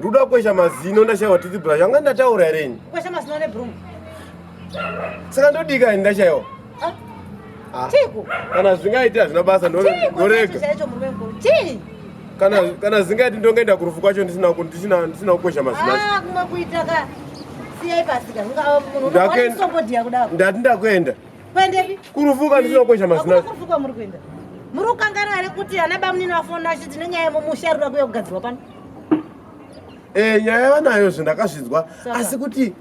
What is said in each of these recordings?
Ndoda kukwesha mazino ndashaiwa titi brush. Anga ndataura here ini? Kukwesha mazino ne broom. Saka ndodika ini ndashaiwa. Ah. ah. Chiku. Kana zvingaita hazvina basa ndorega. Chiku. Chaicho murume mkuru. Chii? Kana kana zingati ndongoenda kurufu kwacho ndisina ndisina ndisina kukwesha mazino. Ah, kuma kuita ka. Siyai pasika. Ndakenda. Ndati ndakuenda. Kuendepi? Kurufuka ndisina kukwesha mazina. Hakuna kurufuka muri kuenda. Muri kukanganwa here kuti ana bamunini vafona achiti nenyaya yemumusha iri kuda kuuya kugadzirwa pano? Eh, nyaya vanayo zve ndakazvinzwa asi kuti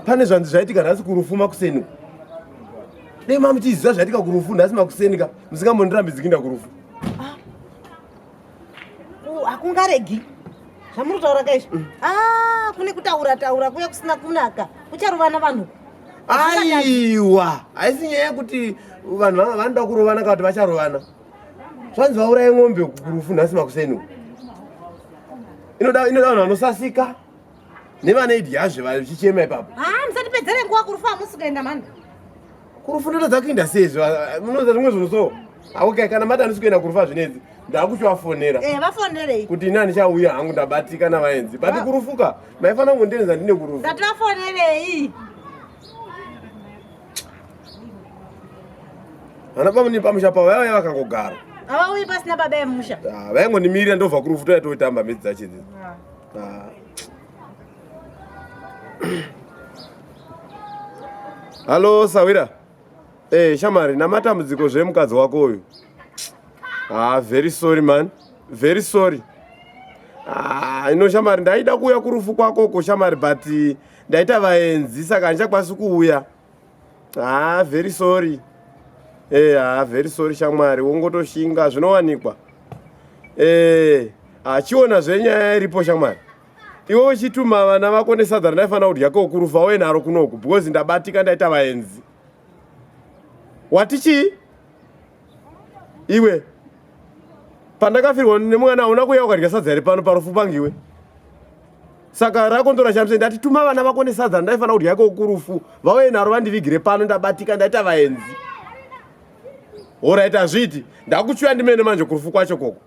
pane zvanzi zvaitika nhasi kurufu makuseni uku. Dai mamuchiziva zvaitika kurufu nhasi makuseni ka musingambondi rambidziki ndakurufu. hakungaregi zvamuri kutaura ka izvi mm. ah, kune kutaura taura kuya kusina kunaka kucharovana vanhu aiwa haisi nyaya yekuti vanhu vanga vanoda kurovana kana kuti vacharovana zvanzi vauraye ng'ombe kurufu nhasi makuseni inoda vanhu vanosasika nevana idyazve vachichema ipapo haa musatipedzere nguva kurufu hamusi kuenda mani kurufu ndotadza kuinda seizvo munoza zvimwe zvinhu so aoke kana mati handisi kuenda kurufu azvinedzi ndakuchivafonera eh, vafonerei kuti ini handichauya hangu ndabatika navaenzi but kurufuka maifanira kungondienza ndine kurufu ndati vafonerei vana pamune pamusha pavo vaiva vakangogara havauyi pasina baba emusha ah, vaingondimirira ndobva kurufu toya toitamba midzi dzachidzidzi Ah. Halo Sawira. Eh, Shamari, na matambudziko zve mukadzi wako uyu. Ah, very sorry man. Very sorry. Ah, ino Shamari ndaida kuuya kurufu kwako ko Shamari but ndaita vaenzi saka handichakwanisi kuuya. haa ah, very sorry ee haa ah, very sorry shamwari wongotoshinga zvinowanikwa ee ah, achiona zvenyaya iripo shamwari iwe uchituma vana vako nesadza randaifanira kudya kokurufa uye naro kunoku because ndabatika ndaita vaenzi wati chii iwe pandakafirwa nemwana hauna kuya ukadya sadza iri pano parufu pangu iwe saka rako ndorashamisa ndati tuma vana vako nesadza ndaifanira kudya yako kurufu vauye naro vandivigire pano ndabatika ndaita vaenzi horaiti hazviiti ndakuchuya ndimene manje kurufu kwacho koko